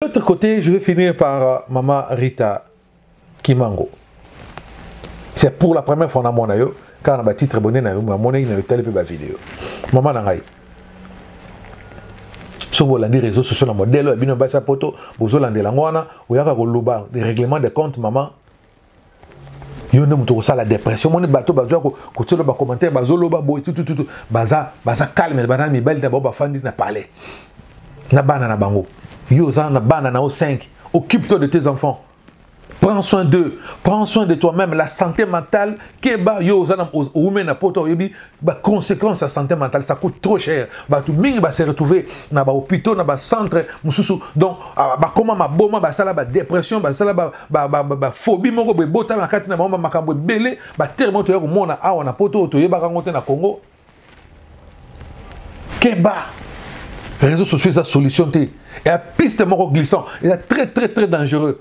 De l'autre côté, je vais finir par euh, Mama Rita Kimango. C'est pour la première fois na mona yo car na ba titre bonne na yo ma mona ina tele pe ba vidéo. Mama na ngai. soki bolandi réseau sociaux na modèle ya bino basi ya poto bozolandela yango wana oyaka koloba règlement de compte mama yo nde moto okosala dépression omoni bato bazoya kotielo bacommentaire bazoloba boye tutututu baza baza calme baza na mibali na bango bafandi na palais na bana na bango yo oza na bana na yo 5 occupe toi de tes enfants prends soin d'eux prends soin de toi-même la santé mentale keba yo oza na oume na poto oyebi ba conséquences ya santé mentale ça coûte trop cher bato mingi ba se retrouver na ba hôpitaux na ba centre mosusu donc ah, bakoma maboma basala ba dépression basala ba, ba, ba, ba, ba phobie moko boye botala na kati na bango makambo ebele batere moko toya komona awa na poto oyo toyebaka yango te na congo keba réseaux sociaux eza solution te ya piste moko glissant eza très très très dangereux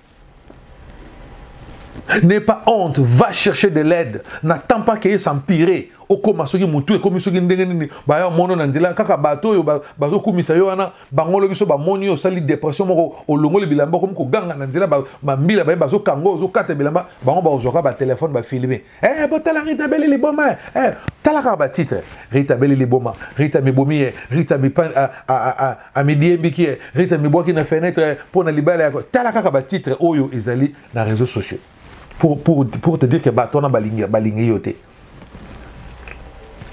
N'aie pas honte, va chercher de l'aide. N'attends pas qu'il s'empire. okoma soki motu ekomi soki ndenge nini baya mono na nzela kaka bato oyo bazokumisa yo wana bango lobi so bamoni yo osali depression moko olongoli bilamba okomi koganga na nzela mambila baye bazokanga ozokata bilamba bango bakozwaka batelefone bafilme Eh, botala Rita Beli liboma eh, eh tala kaka batitre Rita Beli liboma Rita mibomi ye eh, Rita mipan a a a a midiembiki ye eh, Rita mibwaki na fenêtre eh, mpo na libala yako tala kaka batitre oyo ezali na réseaux sociaux pour, pour, pour te dire que bato wana balingi balingi yo te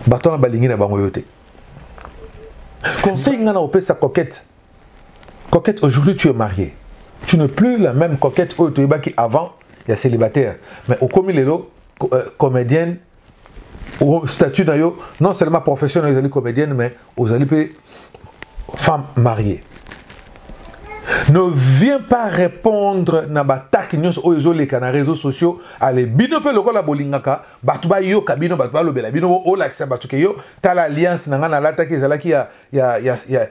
bato wana balingi na bango yo te conseil ngai na kopesa coquette Coquette, aujourd'hui tu es mariée. Tu n'es plus la même coquette oyo toyebaki avant ya célibataire. Mais okomi lelo euh, comédienne au statut na yo non seulement professionnel ezali comédienne mais ozali mpe femme mariée. Ne viens pas répondre na bataki nyonso oyo ezoleka na réseaux sociaux ale bino mpe lokola bolingaka bato bayoka bino bato balobela bino olakisa bato ke yo tala alliance na ngai nalataki ezalaki ya, ya, ya, ya,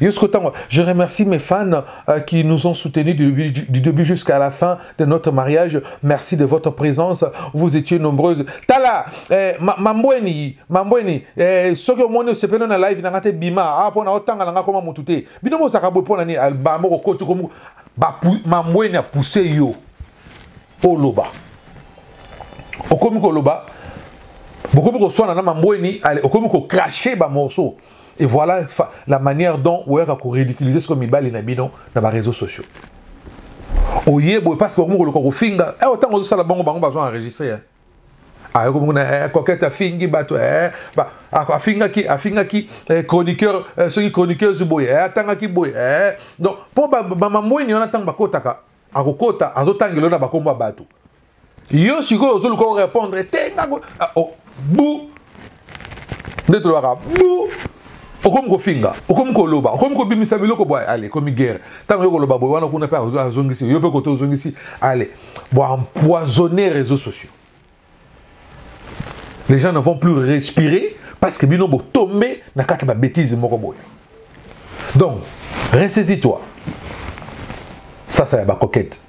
Jusqu'au temps, je remercie mes fans euh, qui nous ont soutenus du, début jusqu'à la fin de notre mariage. Merci de votre présence. Vous étiez nombreuses. Tala, eh, mambweni, mambweni, eh, soki omoni osepeli na live nanga te bima, ah pona otanga nanga koma mutu te. Bino bozaka boye pona ni alba moko kotu komu mambweni apousse yo oloba. Okomi koloba bokomi koswana na mambweni okomi kokrache bamorceau et voilà la manière dont oyaka koridiculiser sikoyo mibali na bino na bareseau sociaux oye boye parce que okomi koluka kofinga eh, ntango ozosala bango bango bazwa enregistre eh. ayoki ah, mokuna eh, coquete afingi bato afingaki afingaki chroniqueur soki chroniqueuse boye atangaki boye donc mpo bamambweni wana ntango bakotaka akokota azotangela na bakombo ya bato yo sikoyo ozoluka orépondre te ngango ah, oh, bu nde tolobaka bu okomi kofinga okomi koloba okomi kobimisa biloko bwa ale ekomi guerre ntango yo koloba boye wana kuna mpe azongisi yo mpe koto ozongisi ale bwa empoisonner réseaux sociaux les gens ne vont plus respirer parce que bino botombe na kati ya babétise moko boye donc ressaisis toi sasa ya bacoquete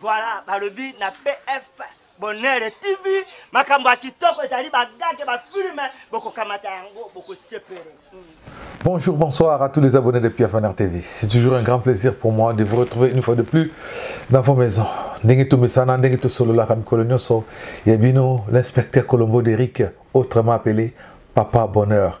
Voilà, balobi na PF Bonheur TV, makambo ya kitoko ezali bagage ba filme bokokamata yango bokosepele. Bonjour, bonsoir à tous les abonnés de PF Bonheur TV. C'est toujours un grand plaisir pour moi de vous retrouver une fois de plus dans vos maisons. Ndenge tumesana, ndenge tosololaka mikolo nyonso ya bino l'inspecteur Colombo d'Eric, autrement appelé Papa Bonheur.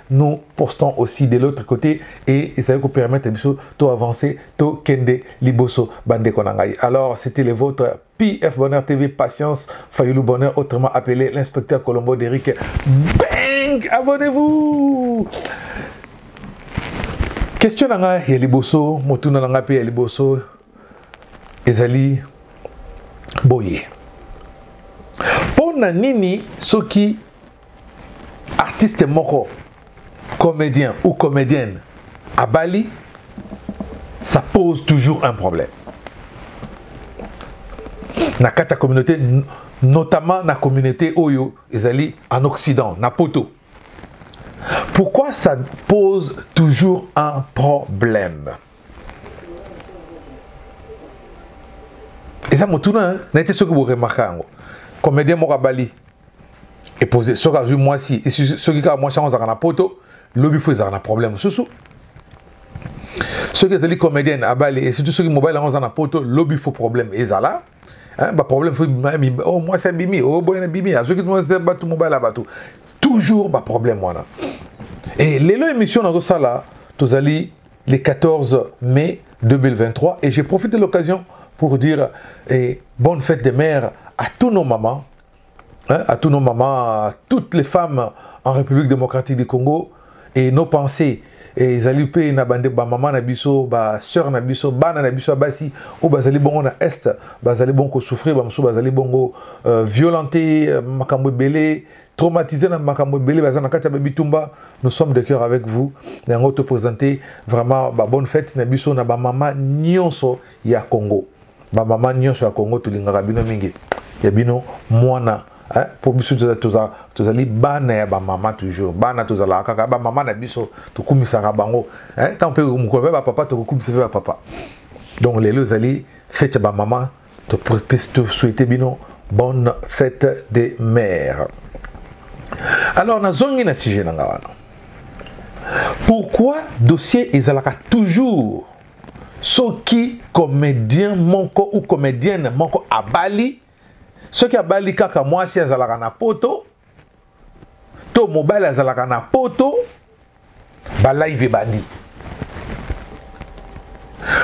nous postons aussi de l'autre côté et ça vous permettre de tout avancer, tout kende liboso bande konangai. Alors c'était le vôtre PF Bonheur TV Patience Fayoulou Bonheur autrement appelé l'inspecteur Colombo d'Eric. Bang Abonnez-vous Question nanga ya liboso, motuna nanga pe ya liboso ezali boye. Pona nini soki artiste moko comédien ou comédienne à Bali, ça pose toujours un problème. Na kata communauté, notamment na communauté Oyo, Ezali, en Occident, na Poto. Pourquoi ça pose toujours un problème Et ça, mon tournant, hein, n'a été ce que vous remarquez. Comédien Mokabali, epose soki azwi mwasi soki kaka mwasi yango azalaka na poto lobi fo ezalaka na problème mosusu soki ezali comédienne abali et surtout soki mobali yango aza na poto lobi fo problème ezala baproblème fo oh, mwasi abimi oboyana oh, bimi azwaki bato mobali ya bato toujours baproblème wana e lelo émission nazosala tozali le 14 mai 2023 et j'ai profité de l'occasion pour dire eh, bonne fête des mères à tous nos mamans hein, à tous nos mamans, à toutes les femmes en République démocratique du Congo et nos pensées et ezali mpe na bande ba maman na biso ba sœur na biso bana na biso ya basi oyo bazali bongo na est bazali bongo kosouffrir bamosusu bazali bongo euh, violente euh, makambo ebele traumatisé na makambo ebele baza na kati ya babitumba nous sommes de cœur avec vous yango topresente vraiment babonne fête na biso na bamama nyonso ya congo ba mama nyonso ya congo tolingaka bino mingi ya bino mwana eh, mpo biso tozali bana ya bamama toujours bana tozalaka kaka bamama na biso tokumisaka bango eh, ntango mpe mokolo mpe bapapa tokokumisa mpe bapapa donc lelo ezali fete ya bamama tosouhaite bino bonne fête des mères alors nazongi na sujet na nga wana pourquoi dossier ezalaka toujours soki comedien moko ou comedienne moko abali soki abali kaka mwasi azalaka na poto to mobali azalaka na poto balive ebandi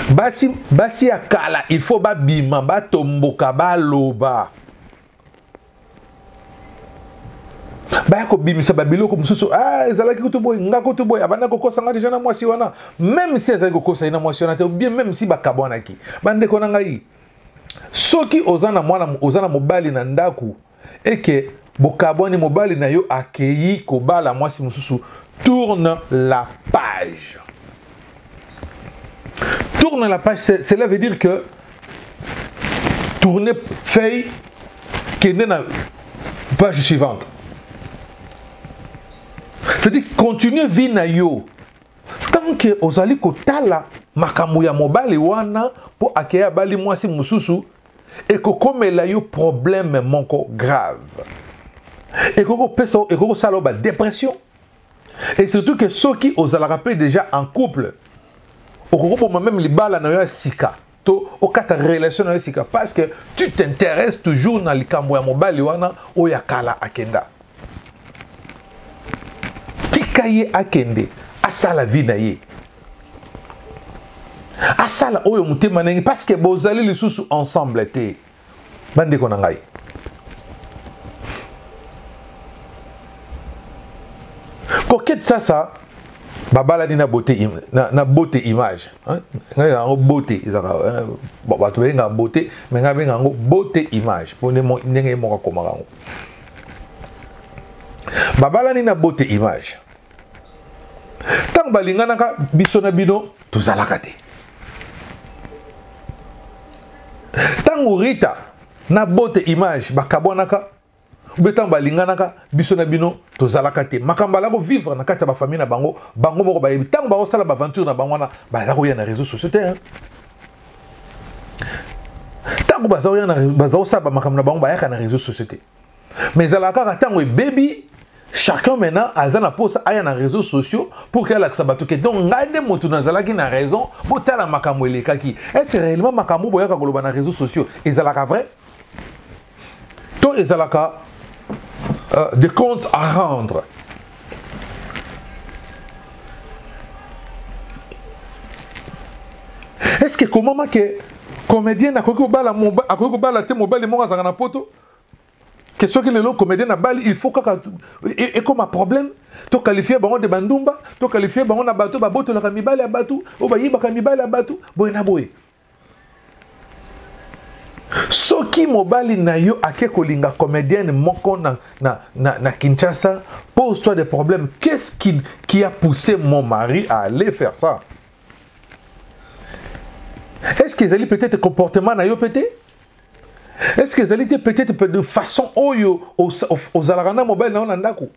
basi basi ya kala il faut babima batomboka baloba baya kobimisa babiloko mosusu ah, ezalaki kutu boye nga kutu boye abanda kokosa nga deja na mwasi wana meme si azali kokosa ye na mwasi wana te obie meme si bakabwanaki bandeko na ngai soki oza na mwana oza na mobali na ndako eke bokabwani mobali na yo akeyi kobala mwasi mosusu tourne la page Tourne la page, cela veut dire que tourner feuille qui est dans la page suivante. C'est-à-dire continuer vie na yo. Tant que ozali kotala makambo ya mobali wana mpo akeya bali mwasi mosusu ekokomela yo problème moko grave. Et que ça, et que ça, la dépression. et surtout que soki ozalaka mpe déjà en couple okoki koboma meme libala na yo ya sika to okata relation na yo sika parce que tu t'intéresses toujours na likambo ya mobali wana oyo ya kala akenda tika ye akende asala vie na ye asala oyo motema ndenge parce que bozali lisusu ensemble te bandeko na ngai kokete sasa babalani na bote na, na bote image ngai yango bote ezaka eh, bato bayengaka bote me ngai benga yango bote image mpo ndenge ye moko akomaka yango babalani na bote image ntango balinganaka biso na bino tozalaka te ntango rita na bote image bakabwanaka obe ntango balinganaka biso na bino tozalaka te makambo alako vivre na kati ya bafamille na bango bango moko bayebi ntango bakosala baaventure na bango wana baza koya na réseau sociaux te ntango baza kosala bamakambo na bango bayaka na réseau sociaux te mais ezalaka kaka ntango ebebi chacun maintenant aza na mposa aya na réseaux sociaux pour ke alakisa bato ke donc ngai nde moto nazalaki na raison botala makambo elekaki est-ce réellement makambo boyaka koloba na réseaux sociaux ezalaka vrai to ezalaka euh, des comptes à rendre est-ce que ekomama ke comédien akoki kobala akoki kobala te mobali moko azalaka na poto que soki lelo comédien na bali il faut kaka ekoma problème to qualifie bango de bandumba to qualifie bango na bato babotolaka mibali ya bato oyo bayibaka mibali ya bato boye na boye soki mobali na yo ake kolinga comédienne moko na, na, na, na kinshasa pose toi des problèmes qu'est-ce qui, qui a poussé mon mari à aller faire ça est-ce que ezali peut-être comportement na yo peut-être est ce que ezali te peut-être peut de façon oyo ozalaka na mobali na yo na ndako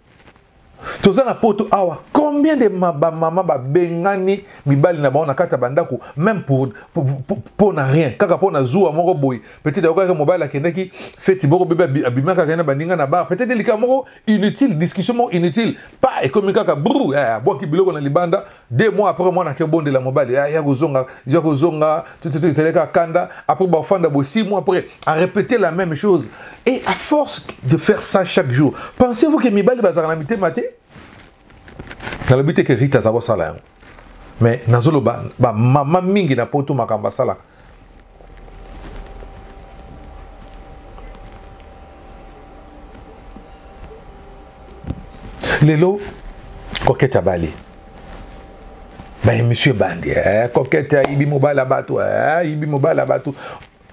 toza na poto awa combien de bamama babengani mibali na bango na kati ya bandako même pour, pour, pour, pour na rien kaka mpo na zuwa moko boye peut-être ayokaki mobali akendaki feti moko bebe abimaka kaka na baninga na bar peut-être likambo moko inutile discussion moko inutile pa ekomi kaka bru eh, abwaki biloko na libanda deux mois après mwana ake bondela mobali ah, ya kozonga ya kozonga ezali kaka kanda après bafanda bo six mois après a répéter la même chose et à force de faire ça chaque jour pensez-vous que mibali bazalaka na mitema te nalobi te ke rite aza kosala yango mais nazoloba bamama mingi na poto makambo asalaka lelo koketa bale baemission ebandi eh, koketa ayibi mobala bato eh, ayibi mobala bato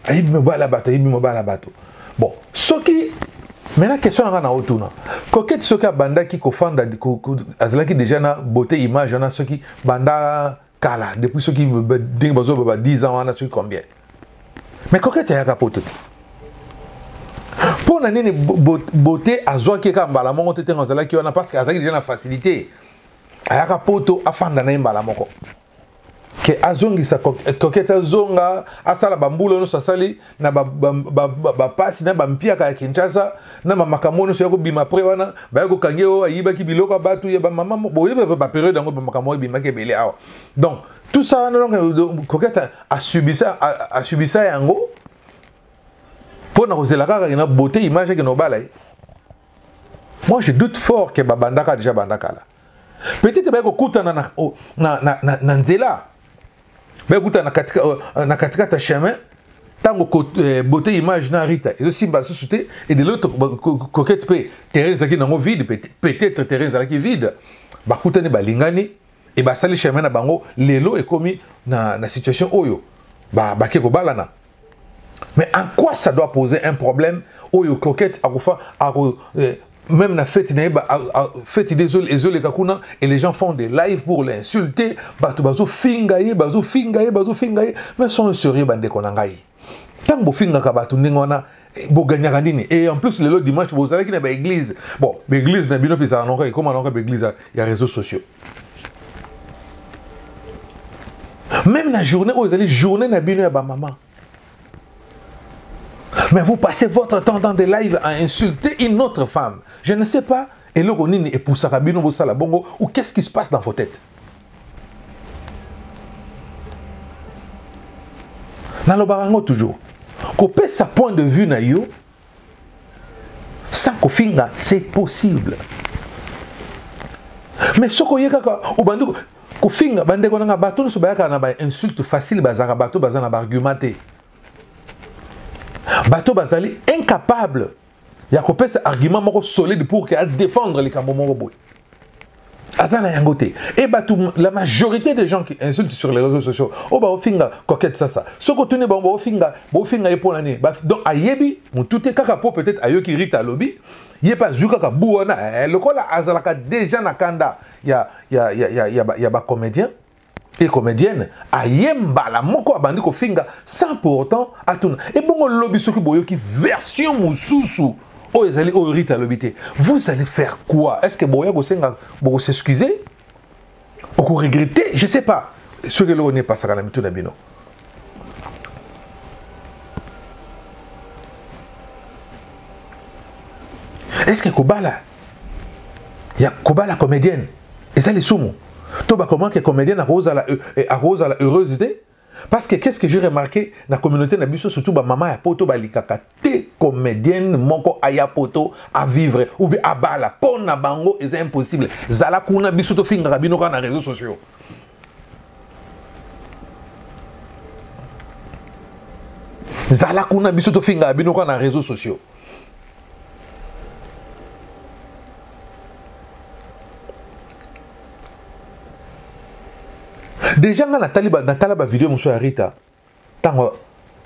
ayibi mobala bato ayibi mobala bato bon soki maintenant question nanga na otuna koketi soki abandaki kofanda azalaki déjà na beauté image wana soki banda kala depuis soki ndenge bazoba ba 10 ans wana soki combien mais coquette ayaka poto te mpo na nini bote azwaki ye kaka mbala moko te ntango azalaki wana parce que azalaki deja na facilité ayaka poto afanda na ye mbala moko ke azongisa kokete azonga asala bambula nyonso asali na bapasi na bampiaka ya kinshasa na bamakambo nyonso ya kobima apres wana baya kokangi oyo ayibaki biloko ya bato ya bamama boyebi baperiode yango bamakambo oyo ebimaki ebele awa donc tout ça wana donc koketa asubisa yango mpo na kozela kaka na beauté image ake na obala ye moi je doute fort ke babandaka déjà bandaka la peut-être baye kokutana na, na, na, na, na nzela bekuta na katikati euh, na katikati ya chemin ntango euh, beauté image na rita ezosimba lisusu te et de l'autre coquette mpe terrain ezalaki nango vide peut-être terrain ezalaki vide bakutani balingani e basali chemin na bango lelo ekomi na, na situation oyo bake ba kobalana Mais en quoi ça doit poser un problème Oyo coquette akufa ako eh, même na fête na ba fête des oles ezole kakuna et les gens font des lives pour l'insulter bato bazo finga ye bazo finga ye bazo finga ye mais sont sérieux bande konangai tango finga ka bato ndenge wana Eh, boganyaka nini et en plus lelo dimanche bozalaki na baeglise bon baeglise na bino mpe ezala noko ekoma noko baeglise ya réseau sociaux même na journée oyo ezali journée na bino ya bamama mais vous passez votre temps dans des lives à insulter une autre femme je ne sais pas eloko nini epusaka bino bosala bongo ou qu'est-ce qui se passe dans vos têtes nalobaka yango toujours kopesa point de vue na yo sans kofinga c'est possible mais soki oye kaka obandi kofinga bandeko nanga bato nyonso bayaka na bainsulte facile bazalaka bato baza na baargument te bato bazali incapable ya kopesa argument moko solide pour que adefendre likambo moko boye aza na yango te e bato la majorité des gens qui insultent sur les réseaux sociaux oyo oh, baofinga coquette sasa soki otuni bango baofinga baofinga ye mpo na nini donc ayebi motu te kaka mpo peut-être ayoki rita alobi ye mpe azwi kaka bu wana eh, lokola azalaka déjà na kanda ya, ya, ya, ya, ya, ya bacomédien ba e comedienne aye mbala moko abandi kofinga sans pour autant atuna ebongo lobi soki boyoki version mosusu oyo ezali oyo rite alobi te vous allez faire quoi est ce que boya kosenga bokosexcuse okoregrete je sais pas soki eloko nini epasaka na mitu na bino est ce que kobala ya kobala comedienne eza lisumu to bakomona ke comédien akozala euh, eh, akozala heureuse te parce que qu'est-ce que j'ai remarqué na communauté na biso surtout bamama ya poto balikaka te comédienne moko aya poto avivre ou bien abala mpo na bango eza impossible zala kuna biso tofingaka bino kaka na réseaux sociaux zala kuna biso tofingaka bino kaka na réseaux sociaux deja ngai natali natala bavideo mosusu ya rita ntango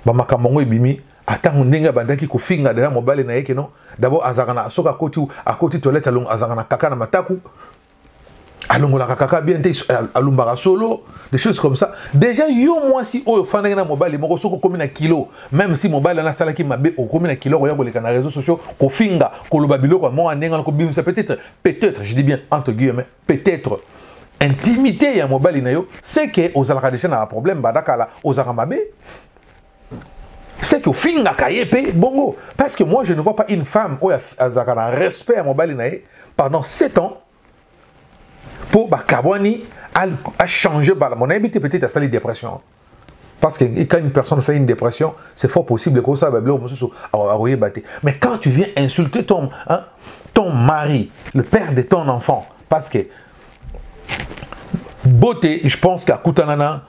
bamakambo yango ebimi atango ndenge abandaki kofinga deja mobali na ye keno dabord azalaka na soki akoti akoti toilette azalaka na kaka na mataku alongolaka kaka bien te alumbaka solo des choses comme ça déjà yo mwasi oyo ofandaki na mobali moko soki okomi na kilo même si mobali wana asalaki mabe okomi na kilo okoya koleka na réseau sociaux kofinga koloba biloko ya moko ndenge wana kobimisa peut-être peut-être je dis bien entre guillemets peut-être intimité ya mobali na yo c'est que ozalaka déjà na baproblème banda kala ozalaka mabe c'est que ofingaka ye mpe bongo parce que moi je ne vois pas une femme oyo azalaka na respect ya mobali na ye pendant 7 ans mpo bakabwani achange bala mo nayebi te peut-être asali dépression parce que quand une personne fait une dépression c'est fort possible ekosala babiloko mosusu akoyeba te mais quand tu viens insulter ton, hein, ton mari le père de ton enfant parce que beauté je pense qu'akutanana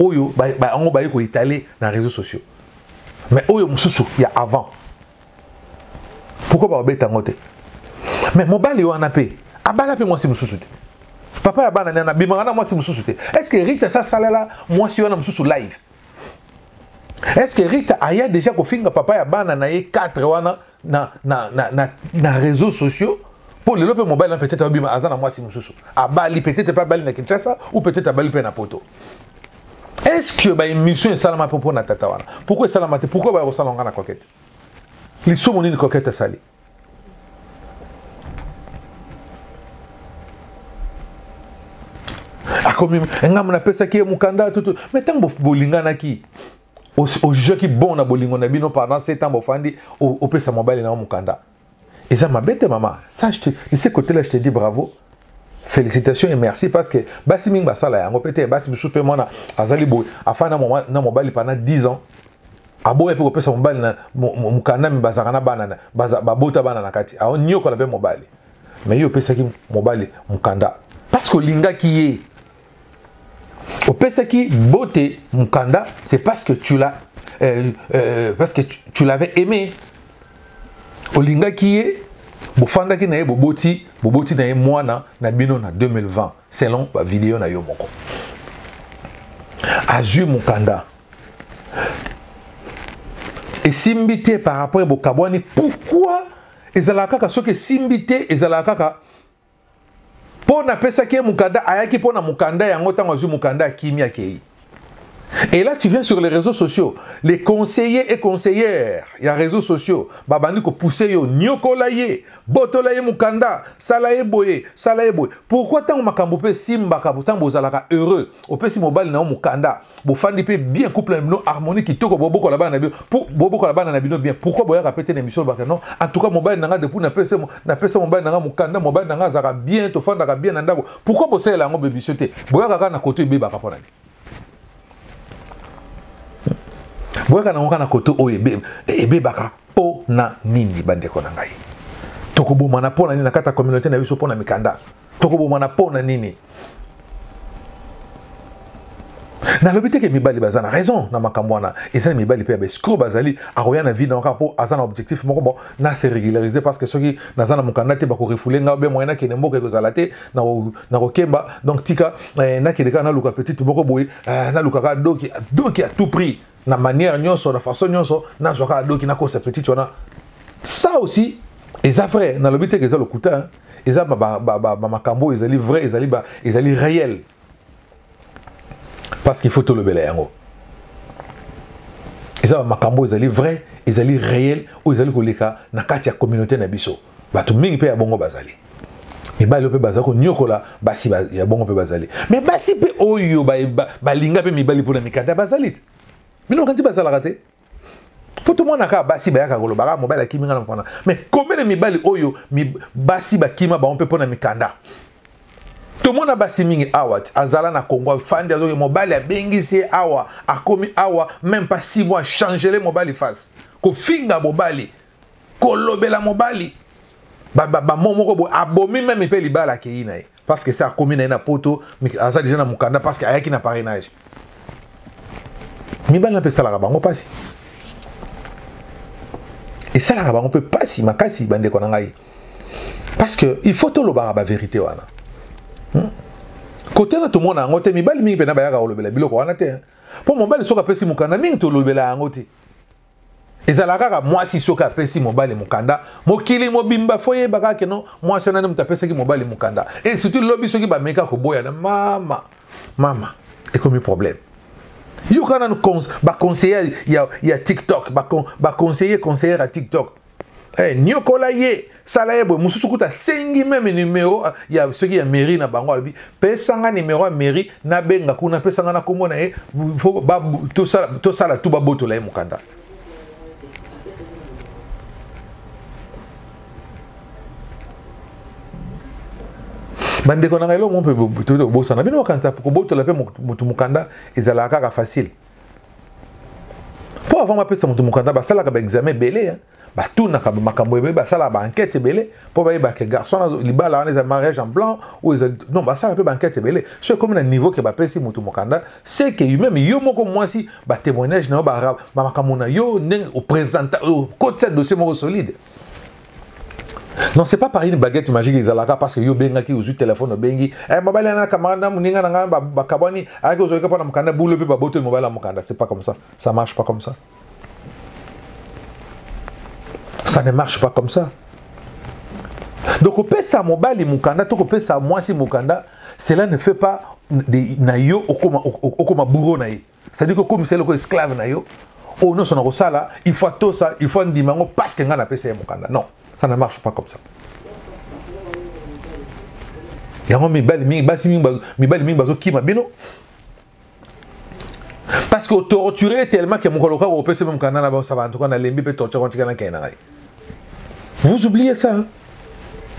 oyo yango baye koetale na réseau sociaux mais oyo mosusu ya avant pourkoi babeta yango te mais mobali wana mpe abala mpe mwasi mosusu te papa ya bana nana abimaka na mwasi mosusu te est ce que rita sa asalela mwasi wana mosusu live est ce que rita aya déjà kofinga papa ya bana na ye 4 wana na, na, na, na, na réseaux sociaux mpo lelo mpe mobali na peut-être abima aza na mwasi mosusu abali peut-être mpe abali na kinshasa ou peut-être abali mpe na poto est ce que baémission esalama mpo mpo na tata wana pourquoi esalama te pourquoi baya kosala nga na coquete lisumu nini coquete asali akomi ngambo napesaki ye mokanda tutu mai ntango bolinganaki ojugaki bon na bolingo na bino pendant ce temps bofandi opesa mobali na yo mokanda eza mabe te mama ça je te de ce côté là je te dis bravo félicitations et merci parce que basi mingi basala yango mpe te basi mosusu mpe mwana azali boye afandi na mobali pendant 10 ans aboya mpe kopesa mobali na mokanda mi bazalaka na bana babota bana na kati aoniokola mpe mobali mais ye opesaki mobali mokanda parce que olingaki ye opesaki bote mukanda c'est parce que tu l'as euh, euh, parce que tu, tu l'avais aimé olingaki ye bofandaki na ye boboti boboti na ye mwana na bino na 2020 selon bavideo na yo moko azwi mokanda esimbi te par rapport ya bokabwani pourkui ezalaka kaka soki esimbi te ezalaka kaka mpo napesaki ye mokanda ayaki mpo na mokanda yango ntango azwi mokanda akimi akei Et là, tu viens sur les réseaux sociaux. Les conseillers et conseillères, il y a réseaux sociaux. Babandi ko pousser yo, nyokola ye, botola ye mukanda, sala ye boye, sala ye boye. Pourquoi tant makambo pe simba ka tant bozalaka heureux. opesi mobali na yo mokanda bofandi mpe bien couple na bino harmonie kitoko bobokola bana na bino bobokola bana na bino bien pourquoi boyaka mpe te na émission lobaka non en tout cas mobali na ngai depuis napesa napesa mobali na ngai mokanda mobali na ngai azalaka bien tofandaka bien na ndako pourquoi bosalela yango bebisio te boyaka kaka na koto ebebaka mpo na nini boyaka nango kaka na koto oyo ebebaka mpo na nini bandeko na ngai tokobomana mpo na nini na kati ya communauté na biso mpo na mikanda tokobomana mpo na nini nalobi te ke mibali baza na raison na makambo wana eza na mibali mpe ya baescro bazali akoya na vie na kaka mpo aza na objectif moko bon na se régulariser parce que soki naza na mokanda te bakorefoule nga be moyen nakende mboka ekozala te nakokemba donc tika eh, nakende kaka naluka petite moko boye eh, naluka kaka doki doki à tout prix na manière nyonso na façon nyonso nazwa kaka doki nakosa petite wana ça aussi eza vrai nalobi te ke eza lokuta eza bamakambo oyo ezali vrai ezali, ba, ezali réel parce qu'il faut tolobela yango eza bamakambo oyo ezali vrai ezali réel oyo ezali koleka na kati ya communauté na biso bato mingi mpe ya bongo bazali mibali oyo mpe bazali konyokola basi ya bongo mpe bazali me basi mpe oyo balinga mpe mibali mpona mikanda bazali te bino bakanisi bazalaka te mpo tomona kaka basi bayaka koloba kaka mobali akimi nga na mokanda me komene mibali oyo basi bakima bango mpe mpona mikanda tomona basi mingi awa ti azala na kongo afandi azoki mobali abengisi ye awa akomi awa meme pas six mois changele mobali face kofinga mobali kolobela mobali bamo moko boye abomi meme mpe libala akei na ye parce que se akomi na ye na poto aza deja na mokanda parce que ayaki na parrainage mibali na mpe esalaka bango mpasi esalaka bango mpe mpasi makasi bandeko na ngai parce que il faut tolobaka baverité wana hmm? kote na tomona yango te mibali mingi mpenza bayaka kolobela biloko wana te mpo mobali soki apesi mokanda mingi tolobela yango te ezalaka kaka mwasi soki apesi mobali mokanda mokili mobimba fo yeba kaka keno mwasi nani moto apesaki mobali mokanda e surtout lobi soki bameka koboyana mama mama ekomi problème yoka nanu baconseiller ya, ya tiktok baconseiller conseillere ya tiktok Hey, eh, niokola ye sala ye boye mosusu kuta asengi meme numero ah, ya soki ya mairie na bango alobi pesa nga numero ya mairie nabenga kuna pesa nga na nkombo na ye tosala tu babotola ye mokanda bandeko na ngai eloko moko mpe tobosana bino bakanisa kobotola mpe motu mokanda ezalaka kaka facile mpo avant bapesa moto mokanda basalaka baexamen ebele batunaka makambo ebele basalaka baankete ebele mpo bayebake garçon wana libala wana eza mariage en blanc oyo eza non basalaka mpe baankete ebele so ekomi na niveau ke bapesi moto mokanda se ke meme yo moko mwasi batémoignage na yo makambo na yo ndenge opresenta okotisa dossier moko solide non c'est pas par une baguette magique ezalaka parce que yo obengaki ozwi telefone obengi eh, mobali ana camarade na moninga na ngai bakabwani ayaki ozoyika mpo na mokanda bulo mpe babotoli mobali ya mokanda c'est pas comme ça ça marche pas comme ça ça ne marche pas comme ça donc kopesa mobali mokanda to kopesa mwasi mokanda cela ne fait pas na yo okoma bouro na ye cestadire kokomisa eloko esclave na yo oyo oh, nyonso nakosala il faut atosa il faut andima yango parce que ngai napesa ye mokanda non ça ne marche pas comme ça yango mibali mingi basi mingi mibali mingi bazokima bino parce que otorture ye tellement ke mokolo kaka opesi mokanda na bango saba antuka nalembi mpe torture kontika na kei na ngai vous oubliez ça hein?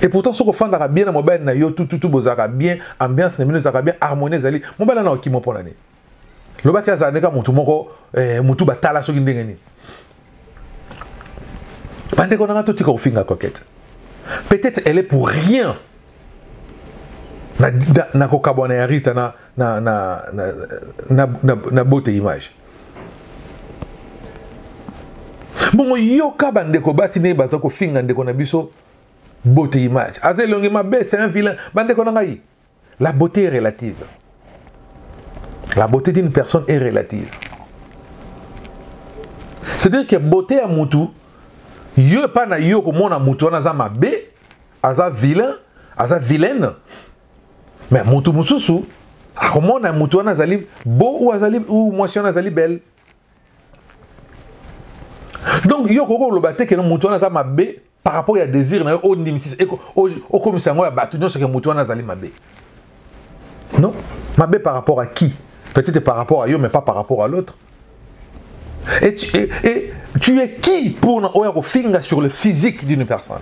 et pourtant soki ofandaka bien na mobali na yo tututu bozalaka bien ambiance na bino ezalaka bien harmonie ezali mobali wana okima mpo na nini lobaki azala ndeka motu moko eh, motu batala soki ndenge nini bandeko nanga totika kofinga coquette peut-être elle est pour rien nakokabwana ya rita na, na, na, na, na, na, na bote image bongo yoka bandeko basi ndenge baza kofinga ndeko na biso bote image aza elongi mabe c'est un vilain bandeko na ngai La beauté est relative. La beauté d'une personne est relative. C'est-à-dire que beauté à mutu, yo pas na yo comme on a mutu, on a mabe, aza vilain, aza vilaine. Mais mutu mususu, a comme on a mutu, on a zali beau ou azali ou moi si on a zali belle. Donc yo koko lobate que mutu on a mabe, par rapport ya désir na yo ondimisisa okomisa yango ya bato nyonso ke moto wana azali mabe non mabe par rapport à qui peut-être par rapport à yo mais pas par rapport à l'autre et tu, et, et tu es qui pour na oyo akofinga sur le physique d'une personne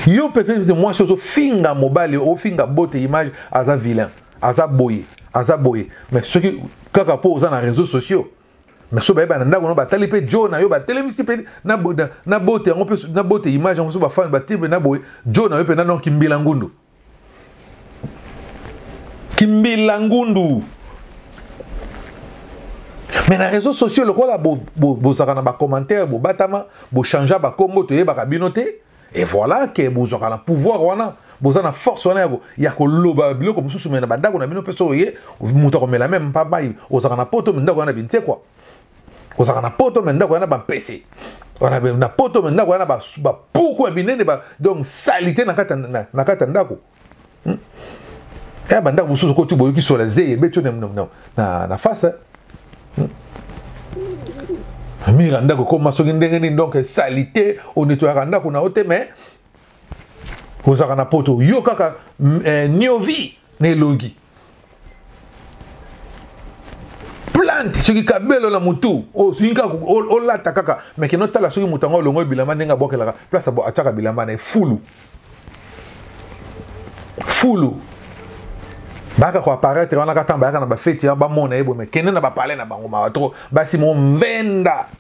yo peut-être mwasi ozofinga mobali ofinga bote image aza vilain aza boye aza boye mais soki kaka mpo oza na réseau sociaux mais so bayeba na ndako no batali mpe jo na yo batelemisi mpe na bote yango mpe na bote image yango so bafani batie mpe na boye jo na yo mpe nano kimbila ngundu kimbila ngundu mais na réseau sociaux lokola bozalaka na bacommentaire bobatama bochange bakombo toyebaka bino te et voilà que bozwaka na pouvoir wana boza na force wana ya, ya koloba biloko mosusu me na bandako na bino mpe soki oye moto akomela meme mpabai ozalaka na poto me ndako wana binsekwa ozalaka na poto me ndako wana bampese na poto me ndako wana bapuku ya binene donc salite na kati ya ndako hmm? eh, bandako mosusu koti boyoki sola zeye ebeti yo na face eh? hmm? mira ndako ekoma soki ndenge nini donc salite onetoyaka ndako na yo te mais ozalaka na poto yo kaka mm, eh, niovi na elongi plante soki kabelo na motu osuki kaka olata kaka mais kino tala soki moto yango olongo bilamba ndenge abwakelaka place atyaka bilamba na ye fulu fulu bayaka koaparaitre wana kaka ntango bayaka na bafeti wana bamona ye boye mais kende na bapale na bango mawa toko basi movenda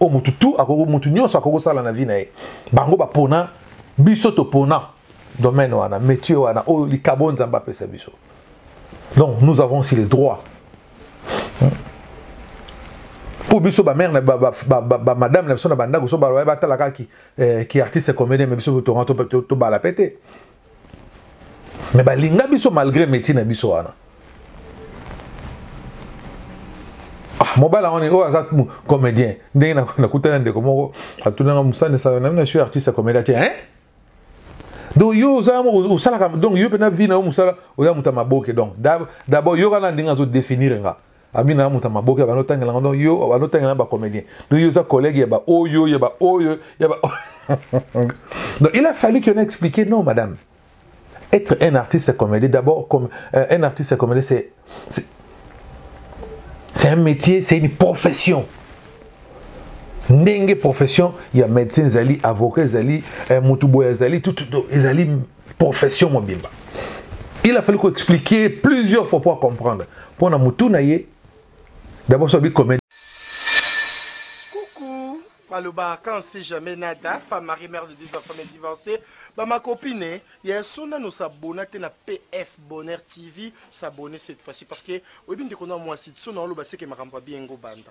oyo motu tu akoki motu nyonso akoki kosala na vie na ye bango bapona biso topona domaine wana métier wana oyo likabo nzambe apesa biso donc nous avons aussi le droit mpo biso bamare na bamadame na biso na bandako so baloya batalaka ki eh, artiste comédien me biso tonga tobala mpe te mais balinga biso malgré métier na biso wana ah, mobala wana oyo aza comédien ndenge nakutana ndeko moko atunanga mosani sala na bino suis artiste ya comédien te hein donc yo oza osalaka donc yo mpena vie na yo mosala oza moto ya maboke donc d'abord yo kana ndenge azo définir nga abina na moto ya maboke ya banotangela ngo donc yo banotangela na bacomédien donc yo oza collègue ya baoyo ya baoyo ya ba donc il a fallu que na expliquer non madame être un artiste comédien d'abord comme euh, un artiste comédien c'est c'est un métier c'est une profession ndenge profession ya médecin ezali avocat ezali eh, motu boye ezali tout ezali profession mobimba il a fallu koexpliquer plusieurs fois mpo acomprendre mpo na motu na ye d'abord sobi comédie maloba quand si jamais nada femme marie mère de deux enfants mais divorcée ba ma copine eh, ya sona no s'abonner te na PF Bonheur TV s'abonner cette fois-ci parce que oyebi ndeko na mwasi sona oloba seke makambo bien ngo banda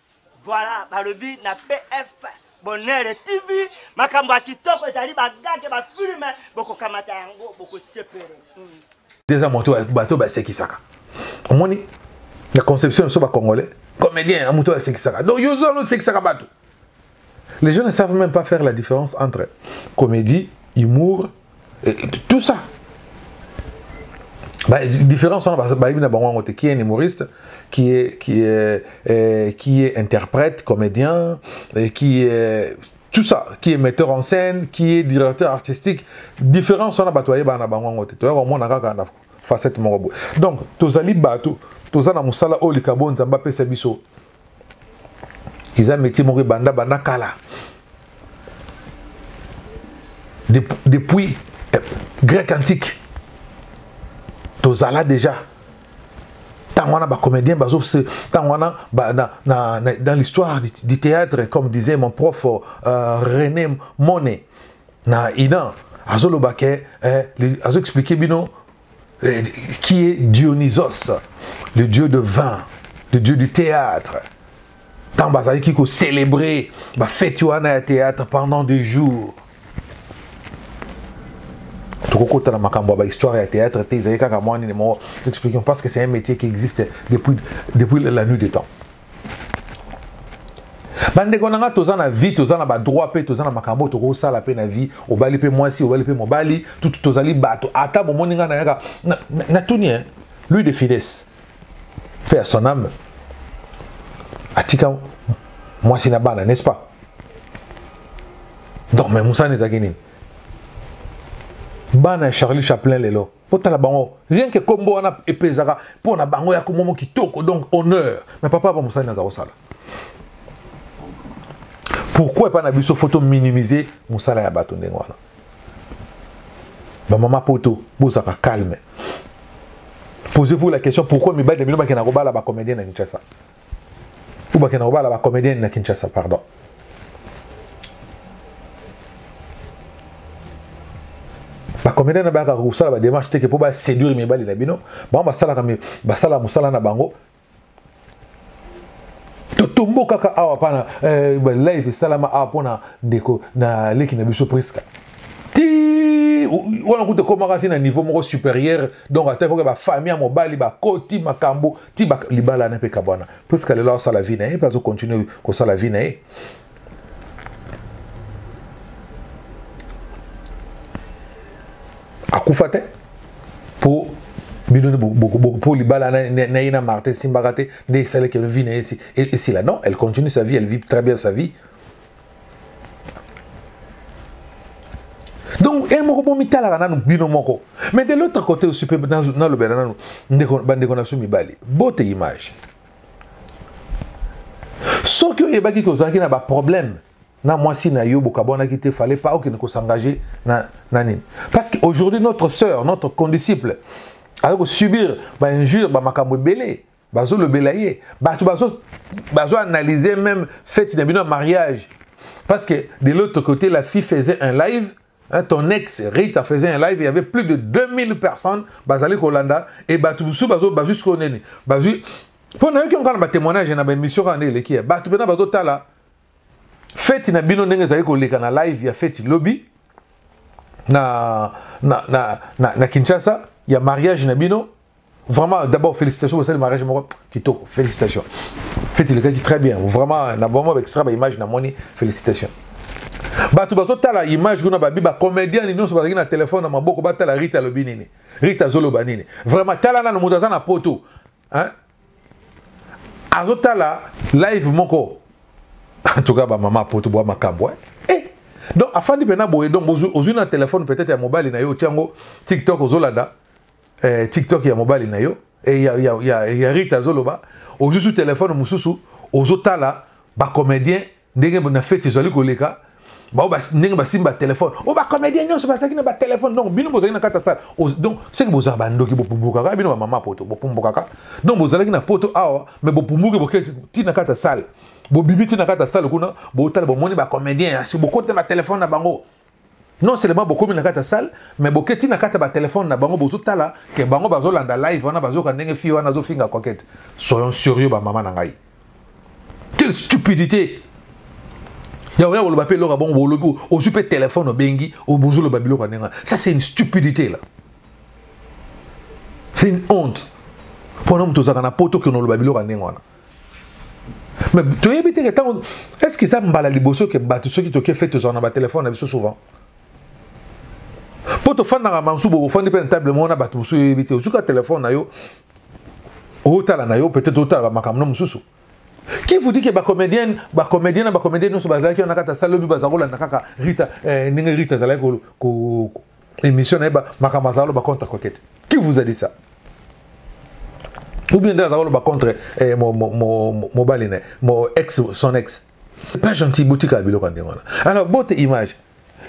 Voilà, balobi na PF Bonheur TV, makambo ya kitoko ezali bagage ba filme bokokamata yango bokosepele. Eza moto bato basekisaka. Omoni la conception so ba congolais comédien moto asekisaka. Donc yo zo asekisaka bato. Les gens ne savent même pas faire la différence entre comédie, humour, et tout ça. Bah, la différence, bah, bah, qui est un humoriste, qui est, qui est, euh, qui est interprète, comédien, et qui est tout ça, qui est metteur en scène, qui est directeur artistique. Différence, on a batoyé, bah, on a bango, on a tout, on a tout, facette moko boye donc tozali bato toza na mosala oyo likabo nzambe apesa biso eza métier moko ebanda banda kala depuis eh, grec antique tozala déjà ntango wana bacomédien bazo ntango wana ba, na, na, na, dans l'histoire du, du théâtre comme disait mon prof euh, rené mone na inan azoloba ke eh, azoexplike bino euh, qui est Dionysos, le dieu de vin, le dieu du théâtre. Tant bazalaki ko célébrer ba fête wana ya théâtre pendant des jours. tokokota na makambo ya bahistoire ya théâtre te ezali kaka mwa nini moko expliquons parce que c'est un métier qui existe depuis, depuis la nuit des temps bandeko na nga toza na vie toza na badroit mpe toza na makambo tokosala mpe na vie obali mpe mwasi obali mpe mobali tutu tozali bato ata bomoni ngai nayaka natuni na, na lui de fides mpe ya son ame atika mwasi na bana n'est-ce pas donc me mosana ezalaki nini bana ya charlie chaplin lelo botala bango rien que kombo wana epezaka mpo na bango ya komomo kitoko donc honneur mais papa apa mosali naza kosala pourquoi epai na biso fo tominimize mosala ya bato ndenge wana bamama poto bozaka calme posez-vous la question pourquoi mibali na bino bakenda kobala bacomédien na kinshasa ou bakenda kobala ba comédienne na kinshasa pardon bacomédien na bayaka kosala badémarche teke mpo baséduire mibali na bino bango basalaka basala mosala na bango totombo kaka awa mpana eh, live esalama awa mpona ndeko na leki na biso priska ti wana kuta ekomaka ti na niveau moko supérieur donc ata ekoki bafamille ya mobali bakoti makambo ti bak libala na pe kabwana Prisca lelo asala vie na ye pe azo continuer kosala vie na ye akufa te po bino po libala na ye na martin esimbaka te nde esalaki vie na ye esila non elle continue sa vie elle vit très bien sa vie donc ye moko bomitalaka nanu bino moko mais de l'autre côté aussi mpe nalobela nanu bandeko na biso mibali bote image soki oyebaki ke ozalaki na baproblème na mwasi na yo bokabwanaki te fallait pas okende kosengage na, na nini parce que aujourd'hui notre sœur notre condisciple aye kosubir bainjure bamakambo ebele bazolobela ye bato bazoanalyse même fete na bino ya mariage parce que de l'autre côté la fille faisait un live Hein, ton ex Rita faisait un live, il y avait plus de 2000 personnes, Bazali Kolanda, et Batubusu Bazo, Bazus Koneni. Bazus, pour nous qui ont un témoignage dans l'émission, on est les qui est. Batou Bena Bazo Tala, fête na bino ndenge ezali koleka na live ya fête lobby na, na, na, na, na kinshasa ya mariage na bino Vraiment, d'abord, félicitations pour le mariage. Kitoko, félicitations. Faites le dit très bien. Vraiment, na vraiment avec ça, image, na moni, félicitations. bato bazotala image kuna babi bacomédien ni nyonso bazalaki na telefone na maboko batala rite alobi nini rite azoloba nini vraiment tala nano moto aza na poto azotala live moko en tout cas bamama poto bwa makambo eh? eh. donc afandi mpena boye donc ozwi na telefone peut-être ya mobali na yo otiango tiktok ozolanda eh, tiktok ya mobali na yo eh, ya, ya, ya, ya rita azoloba ozwi su telefone mosusu ozotala bacomédien ndenge na feti ezali koleka bao ndenge basimbi batelefone o oh, bacomédien nyonso bazalaki na batelefone donc bino bozalaki na kati ya sala donc seke bozala bandoki bopumbukaka bino bamama poto bopumbukaka donc bozalaki na poto awa mais bopumbuki boke ti na kati ya sale bobimi ti na kati ya sale kuna botala bomoni bacomédien asi bokoti na batelefone na bango non seulement bokomi na kati ya salle mais boketi na kati ya batelefone na bango bozotala ke bango bazolanda live wana bazoyoka ndenge fille wana azofinga kokete soyons sérieux bamama na ngai quelle stupidité ya oya koloba mpe eloko ya bongo bolobi ozwi mpe telefone obengi obozoloba biloko ya ndenge wana ça c'est une stupidité là c'est une honte mpona moto ozalaka na poto okende oloba biloko ya ndenge wana mais toyebi te ke ntango est ce que eza mbala liboso ke bato soki toke fete tozala na batelefone na biso souvent mpo tofandaka masusu bofandi mpe na table moko na bato mosusu oyebi te ozuka telefone na yo otala na yo peut-être otala bamakambo na mosusu qui vous dit que bacomédienne bacomédien na bacomédien nyonso bazalaki wana kata salobi baza kolanda kaka rita eh, ndenge rita azalaki émission na ye makambo azala loba contre coquete qui vous a dit ça ou bien nde azala loba contre eh, mobali na mo ex son ex c'est pas gentil botikala biloko ya ndenge wana alors bote image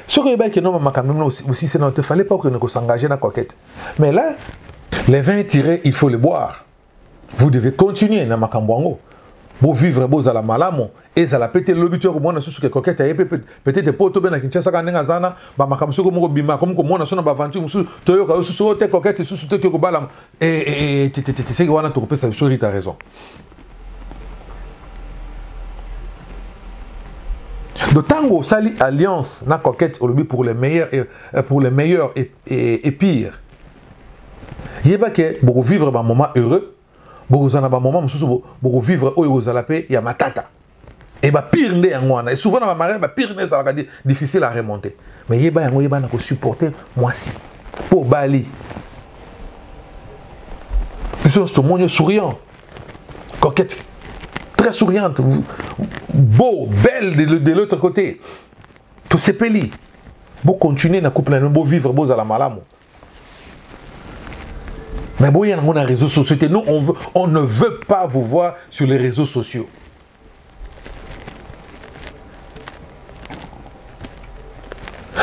soki oyebaki kenoma makambo mino osisi nao te fallait pas okende kosangager na coquete mais là les vin tiré il faut le boire vous devez continuer na makambo yango bovivre bozala malamu ezala mpe te lobi to ya komona susu ke kokete aye mpe peut-être mpo tobe na kinshasa kaka ndenge aza wana bamakambo soki moko bima akomi komona so na baventure mosusu toyoka yo susu o oh, te kokete susu te kobala tetetete seke wana tokopesa biso rita raison donc ntango osali alliance na coquette olobi pour le meilleur et, euh, pour le meilleur et, et, et pire yeba ke bokovivre bamoment heureux bokozala na bamoment mosusu bokovivre oyo ekozala mpe ya matata e bapire nde yango wana souvent na bamariage bapire nde ezalaka difficile à remonter mais yeba yango yeba na kosupporte mwasi mpo obali biso nyonso tomoni souriant coquette très souriante beau belle de, de l'autre côté tosepeli bocontinue na couple na bino bovivre bozala malamu Mais bon, il y a les réseaux sociaux. Nous, on, veut, on ne veut pas vous voir sur les réseaux sociaux.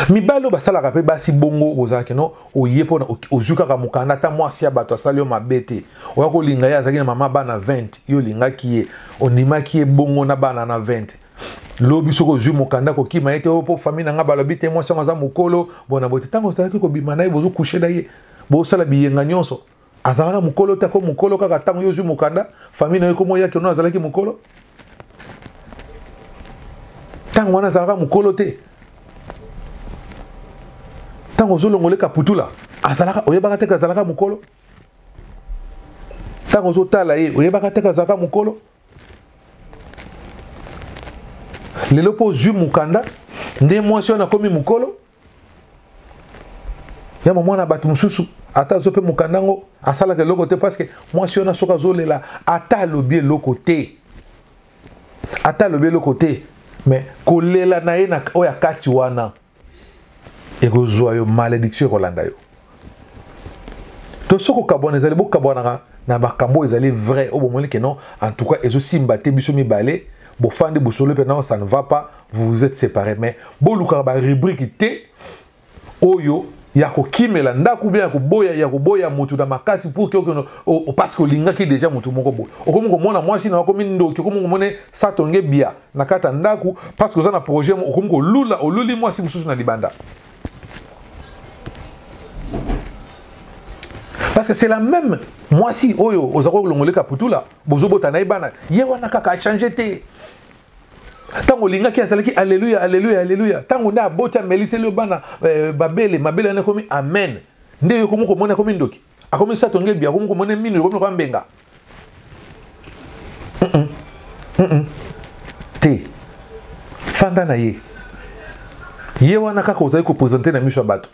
mibali oyo basalaka mpe basi bongo ozalaki no oye mpona ozwi kaka mokanda ata mwasi ya bato asali yo mabe te oya kolinga ye azalaki na mama bana 20 yo olingaki ye ondimaki ye bongo na bana na 20 lobi soki ozwi mokanda kokima ye te o oh, mpo famille na ngai balobi te mwasi yango aza mokolo bona boye te ntango ozalaki kobima na ye bozokushe na ye bosala biyenga nyonso azalaka mokolo te ako mokolo kaka ntango yo ozwi mokanda famille na yo ekomo yaki ono azalaki mokolo ntango wana azalaka mokolo te ntango ozolongoleka putula azalaka oyebaka te ke azalaka mokolo ntango ozotala ye oyebaka te ke azalaka mokolo lelo mpo ozwi mokanda nde mwasi wana akomi mokolo ya mamwana bato mosusu ata azo mpe mokanda yango asalaka eloko te parce que mwasi wana soki azolela ata alobi eloko te ata alobi eloko te mais kolela na ye na oyo akati wana ekozwa yo malediction ekolanda yo to soki okabwana ezali bokabwanaka na makambo oyo ezali vrai oyo bomoni ke non en tout cas ezosimba te biso mibale bofandi bosolo mpe non ça ne va pas vous vous êtes séparé mais bolukaka barubrike te oyo ya kokimela ndako ubien ya koboya ya koboya motu na makasi pour kiokono parce que olingaki déjà motu moko boye okomi komona mwasi na yo akomi ndoki okomi komona satonge bia na kati ya ndako parce que oza na projet okomi kolula oluli mwasi mosusu na libanda parce que c'est la même mwasi oyo oza kolongoleka putula bozobota na ye bana ye wana kaka achange te ntango olingaki azalaki aleluya aleluya aleluya ntango nde aboti ameliseli yo bana eh, babele mabele wana ekomi amen nde yo komi komona ekomi ndoki akomi sato ngebi akomi komona mino ekomi lokola mbenga te fanda na ye ye wana kaka ozali kopresente na miso ya bato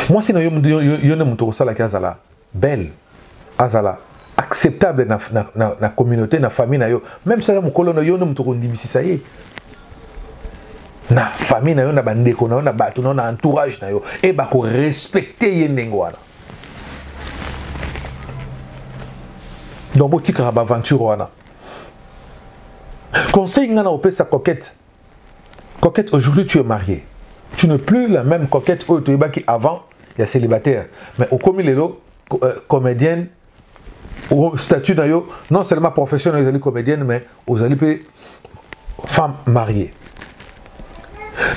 mwasi na yo nde moto okosalaki azala belle azala acceptable na, na, na, na communauté na famille na yo même soki aza mokolo na yo nde moto okondimisisa ye na famille na yo na bandeko na yo na bato na yo na entourage na yo e bakorespecte ye ndenge wana donc botikaka baaventure wana conseil ngai na kopesa coquette Coquette, aujourd'hui tu es mariée. Tu n'es plus la même coquette oyo toyebaki avant ya célibataire. Mais okomi lelo euh, comédienne au statut na yo non seulement professionnel ezali comédienne mais ozali mpe femme mariée.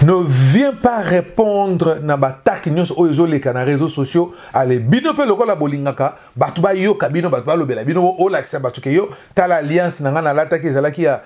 Ne viens pas répondre na bataki nyonso oyo ezoleka na réseaux sociaux ale bino mpe lokola bolingaka bato bayoka bino bato balobela bino olakisa bato ke yo tala alliance na ngai nalataki ezalaki ya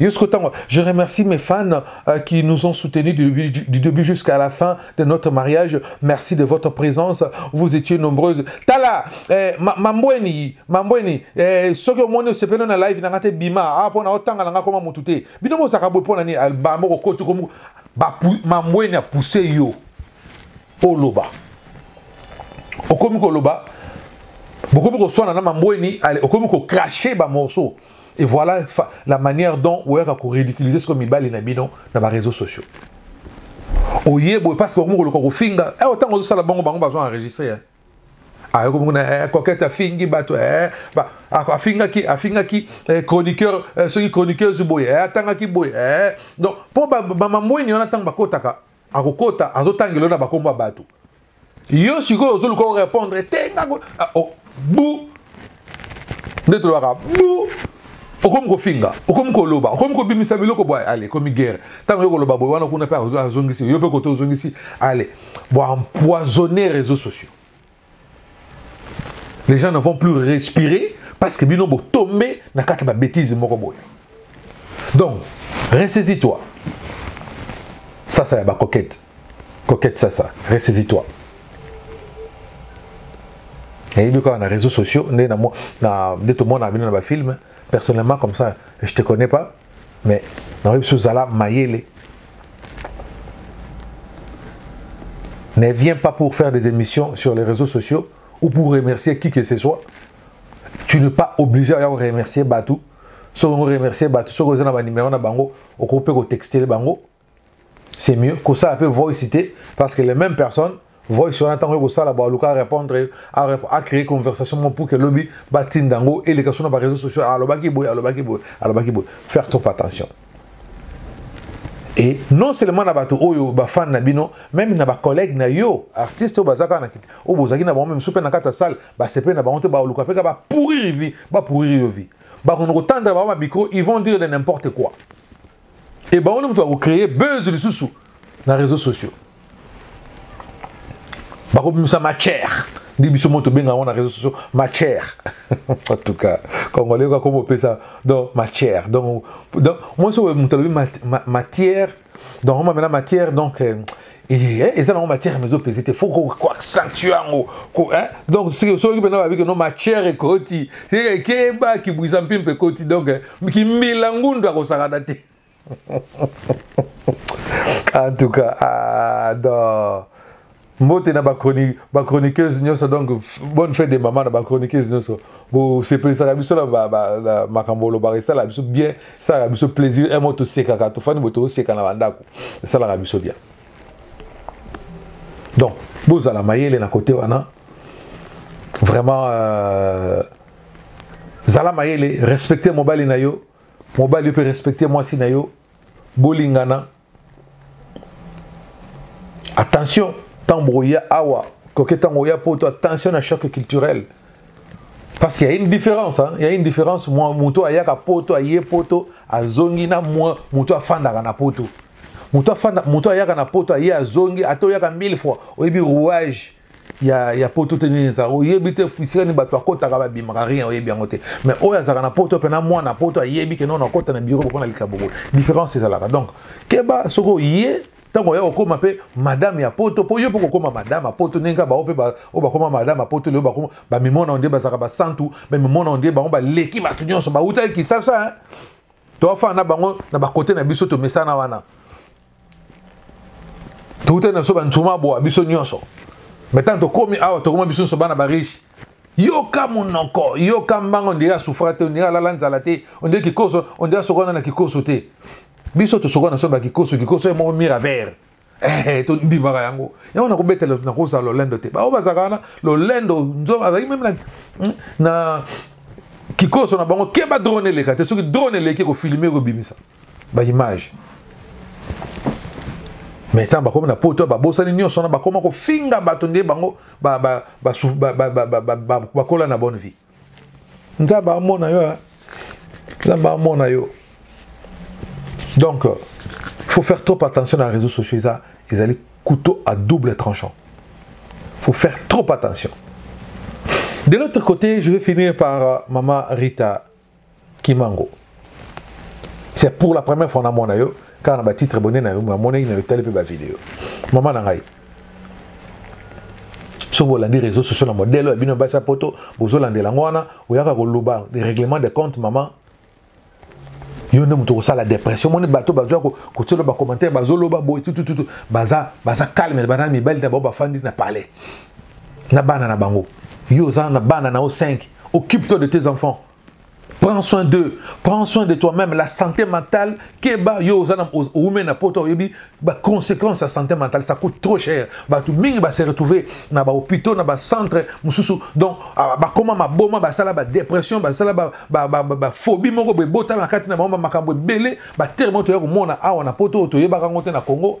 Jusqu'au temps, je remercie mes fans euh, qui nous ont soutenus du, du, du début jusqu'à la fin de notre mariage. Merci de votre présence. Vous étiez nombreuses. Tala, eh, ma- mambweni, mambweni, eh, soki omoni osepeli na live nanga te bima, ah, pona otanga nanga koma mutu te. Bino bozaka boye pona ni alba moko koti komu, ba pou- mambweni a pousser yo oloba. Okomi koloba, bokomi koswana na mambweni, ale- okomi kokrache ba morceaux. et voilà la manière dont oyaka koridiculiser sikoyo mibali na bino na bareseau sociaux oye boye parce que okomokoluka kofinga eh, ntango ozosala bango bango bazo enregistre eh. ayoki ah, mokuna eh, coquete afingi bato afingaki afingaki chroniqueur soki chroniqueuse boye atangaki boye donc mpo bamambweni wana ntango bakotaka akokota azotangela yo na bakombo ya bato yo sikoyo ozoluka orépondre te ngango ah, oh, bu nde tolobaka bu okomi kofinga okomi koloba okomi kobimisa biloko bwa ale ekomi guerre ntango yo koloba boye wana kuna mpe azongisi yo mpe koto ozongisi ale boempoisonne réseau sociaux les gens n'avons plus respiré parce que bino botombe na kati ba bêtise moko boye donc ressaisis toi ça ça ya ba coquette coquette ça ça ressaisis toi nayebi kaka na réseaux sociaux nde nde tomona bino na bafilme personnellement comme ça je te connais pas mais naoyebi so ozala mayele ne viens pas pour faire des émissions sur les réseaux sociaux ou pour remercier qui que ce soit tu n'es pas obligé ya koremercier bato soki ongo remercier bato soki oza na banimero na bango okoki mpe kotextele bango c'est mieux kosala mpe voice te parce que les mêmes personnes voice wana ntango ekosala baluka répondre acréer conversation moko pour que lobi batinda yango eleka so na baréseau sociaux alobaki boye alobaki boye alobaki boye faire trop attention et non seulement na bato oyo bafane na bino meme na bacollègue na yo artiste oyo baza kaka na kiti oyo bozalaki na bango meme soki mpe na kati ya salle basepeli na bango te baluka mpe kaka bapouriri vie bapouriri yo vie bakono kotandela bango bamicro ils vont dire de n'importe quoi Et bango mutu ako créer buzz lisusu na réseaux sociaux. Bako bimisa matière. Ndi biso moto benga on na réseaux sociaux matière. en tout cas, congolais ko ko pesa donc matière. Donc donc moi so mutu matière donc on m'a matière donc euh, Eh, eh, eza nango matière mais ezopesi te faut koaccentue yango eh, donc soki mpena babiki no matière ekoti ekeba kibwisa mpi mpe ekoti donc kimbila ngundu akosakana te en tout cas ah, non mbote na bachroniqueuse nyonso donc bonne fête de mama na bachroniqueuse nyonso bosepelisaka biso na makambo olobaka esalaka biso bien esalaka biso plaisir emo tosekaka tofandi boye tooseka na bandako esalaka biso bien donc bozala mayele na kote wana vraiment euh, zala mayele respecte mobali na yo mobali mpe respecte mwasi na yo bolingana attention ntango bokoya awa koke ntango oya poto attention na choc culturel Parce qu'il y a une différence, hein? il y a une différence. Moi, moto ayaka poto, aye poto, azongi na moi, moto afandaka na poto. Moto afanda, moto ayaka na poto, aye azongi, ato yaka mille fois. Oyebi rouage ya ya poto te nini ça. Oyebi te fisika ni bato akotaka ba bimaka rien oyebi yango te. Mais oyo azaka na poto pe na moi na poto ayebi ke non akota na bureau pona likaboko. Différence ezalaka. Donc, keba soko ye ntango oya kokoma mpe madame ya poto mpo yo mpe kokoma madame ya poto ndenge kaka bango mpe oyo bakoma madame ya poto lelo bakoma bamimona ondie bazalaka basantu bamimona ondie bango baleki bato nyonso bautaki kisasa toafana na bango na bakote na biso tomesana wana toutaki na biso banzuma boa biso nyonso me ntango tokómi awa tokoma biso nyonso bana bariche yoka monoko yoka mbanga ondire asufra te ondire alala nzala te ondire kikoso ondire asokwana na kikoso te biso tosokwana so bakikoso kikoso ye moko mira vert eh, eh, tondimaka yango yango nakobetela nakozala lolendo te baoyo bazalaka wana lolendo nzo azalaki meme hmm, na kikoso na bango keba drone eleka te soki drone eleki kofilme kobimisa ba image mais ntango bakomi na poto babosani nyonso wana bakoma kofinga bato nde bango bakola na bonne vie nzambe amona yo nzambe amona yo donc euh, faut faire trop attention na réseaux sociaux eza ezali couteau à double tranchant faut faire trop attention de l'autre côté je vais finir par euh, mama rita kimango c'est pour la première fois namona yo kaka na batitre bone na yo namonaki na yo tali mpe bavideo mama na ngai soki bolandi réseau sociaux na modele ya bino ya basi ya poto bozolandela yango wana oyaka koloba règlement de compte mama yo nde moto okosala dépression omoni bato bazwa kotielo bacommentaire bazoloba boye tutututu baza baza calme baza mibali na bango bafandi na palais na bana na bango yo oza na bana na yo 5 occupe toi de tes enfants prends soin d'eux prends soin de toi-même la santé mentale keba yo oza na oume na poto oyebi baconséquence ya santé mentale ça coûte trop cher bato mingi base retrouve na bahôpitaux na bacentre mosusu donc ah, bakoma maboma basala badépression basala baphobie moko boye botala na kati na bango bamakambo ebele batere moko toya komona awa na poto oyo toyebaka yango te na congo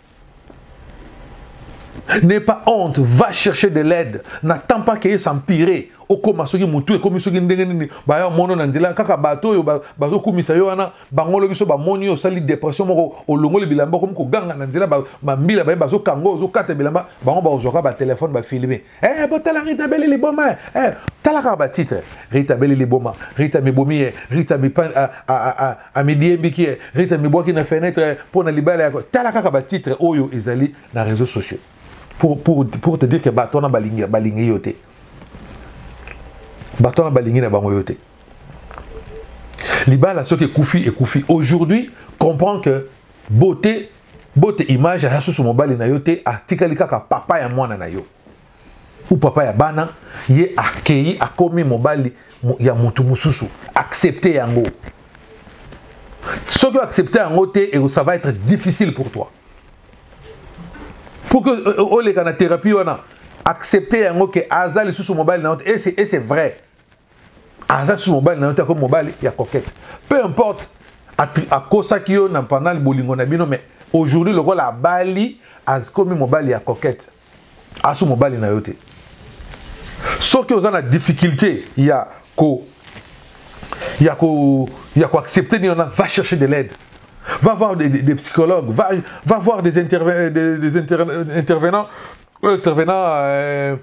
N'aie pas honte, va chercher de l'aide. N'attends pas que ça empire. okoma soki motu ekomi soki ndenge nini baya mono na nzela kaka bato oyo bazokumisa yo wana bango lobi so bamoni yo osali depression moko olongoli bilamba okomi koganga na nzela bambila baye bazokanga ozokata bilamba bango bakozwaka batelefone bafilme Eh, botala Rita Beli liboma eh. eh tala kaka batitre Rita Beli liboma Rita mibomi ye eh. Rita mipan ah, ah, ah, amidiembiki ye Rita mibwaki na fenêtre mpo na libala yako tala kaka batitre oyo ezali na réseaux sociaux pour, pour, pour te dire que bato wana balingi, balingi yo te bato wana balingi na bango yo te libala soki ekufi ekufi aujourd'hui comprend que beauté bote image aya susu mobali na yo te atikali kaka papa ya mwana na yo ou papa ya bana ye akei akomi mobali ya motu mosusu accepte yango soki oaccepte yango te ça va être difficile pour toi pour que euh, euh, oleka na thérapie wana accepte yango ke aza lisusu mobali na yo te et c'est vrai aza su mobali na yo te akomi mobali ya coquette peu importe akosaki yo na pendant bolingo na bino mais aujourd'hui lokola abali akomi mobali ya coquette asu mobali na yo te soki oza na difficulté ya ko ya ko ya ko accepter nini wana va chercher de l'aide va voir des, des, des psychologues va, va voir des, interve, euh, des, des interve, euh, intervenants euh, intervenants euh,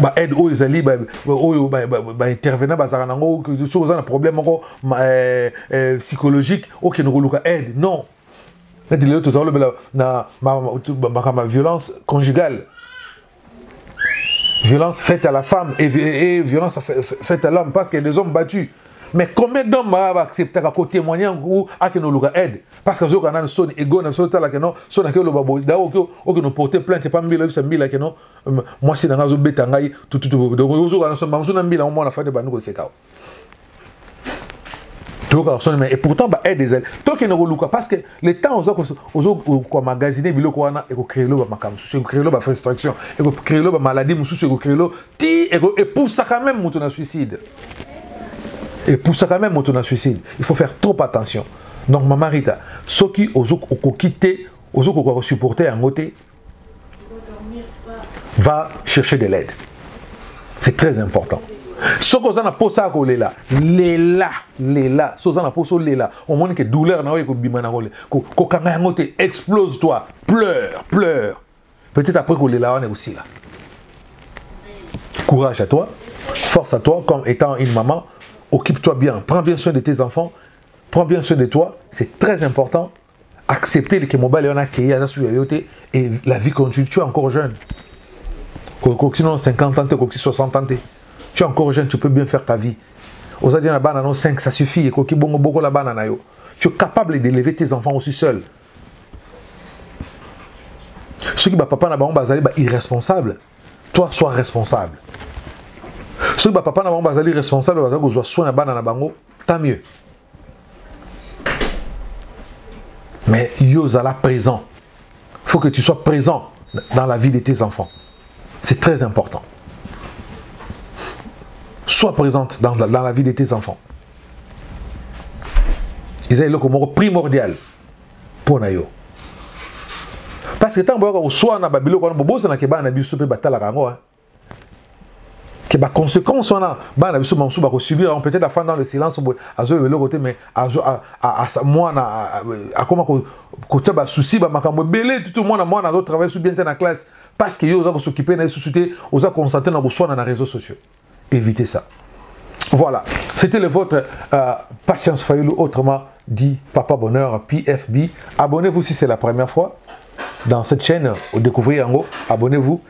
ba aide oyo ezali oyo baintervenant bazalaka nango soki oza na problème moko eh, eh, psychologique okende koluka aide non neti lelo tozala olobela na makambo ya violence conjugale violence faite à la femme et, et, et violence faite à l'homme parce qu'il y a des hommes battus mais combien d'hommes ba acceptaka ko témoigner ou akeno luka aide parce que zoka nanu soni ego na so tala keno sona ke loba bo da okyo okyo porter plainte pa mbila bisa mbila keno mwasi na ngai azobeta ngai tututuozokaa mamosu na mbila mwana fade bandi koseka toyokaka soni mais pourtant baaide ezali tokende koluka parce que le temps oza komagasine biloko wana ekocreelo bamakambo mosusu ekocreelo bafrustraction ekocreelo bamaladi mosusu ekocreelo ti epusaka meme moto na suicide epusaka meme moto na suicide il faut faire trop attention donc mama rita soki okoki te ozokoka kosupporte yango te va chercher de l'aide c'est très important soki oza na mposa ya kolela lela lela soki oza na mposa olela omoni ke douleur na oyo ekobima na kokanga yango te explose toi pleure pleure peut-être après kolela wana ekosila courage à toi force à toi comme étant une maman occupe-toi bien prends bien soin de tes enfants prends bien soin de toi c'est très important accepter que mobali wana akei aza suki ya yo te et la vie continue tu es encore jeune okokisi nano 50 ans te okokisi 60 ans te tu es encore jeune tu peux bien faire ta vie oza dia na bana no 5 ça suffit ekoki bongo bokola bana na yo tu es capable d'élever tes enfants aussi seul soki bapapa na bango bazali ba irresponsable toi sois responsable soki bapapa na bango bazali responsable bazali kozwa soin ya bana na bango tant mieux Mais Yozala présent. Il faut que tu sois présent dans la vie de tes enfants. C'est très important. Sois présente dans, dans la vie de tes enfants. Ils ont le primordial pour Nayo. Parce que tant que soit na babiloko na bobosa na keba na biso pe batala kango hein. que ba conséquences wana bana na biso bamosusu bakosubir yango peut-être afanda dans le silence boye azoyeba eloko te mais mwana akoma kotia basusi bamakambo ebele tutu mwana mwana azotravaille su bien te na classe parce que yo oza kosokipe na ye susu te oza concentre na koswana na réseaux sociaux évitez ça voilà c'était le vôtre euh, patience fayulu autrement dit papa bonheur pfb abonnez-vous si c'est la première fois dans cette chaîne découvrir yango abonnez-vous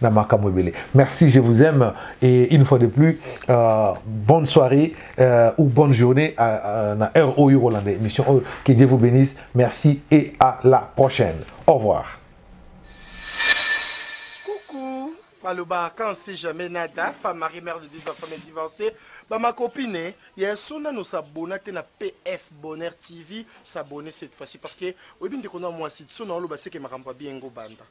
na makambo ebele merci je vous aime et une fois de plus euh, bonne soirée euh, ou bonne journée euh, euh, na heure oyo kolanda émission oyo que dieu vous bénisse merci et à la prochaine au revoir coucou maloba quand c'est jamais nada femme marie mère de deux enfants mais divorcée ba ma copine eh, ya sona no s'abonner te na pf bonheur tv s'abonner cette fois-ci parce que oyebi ndeko na mwasi sona oloba seke makambo ya bien ngo banda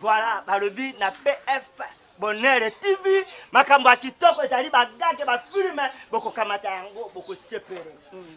Voilà, balobi na PF Bonheur TV, makambo ya kitoko ezali bagage ba filme bokokamata yango bokosepele. Mm.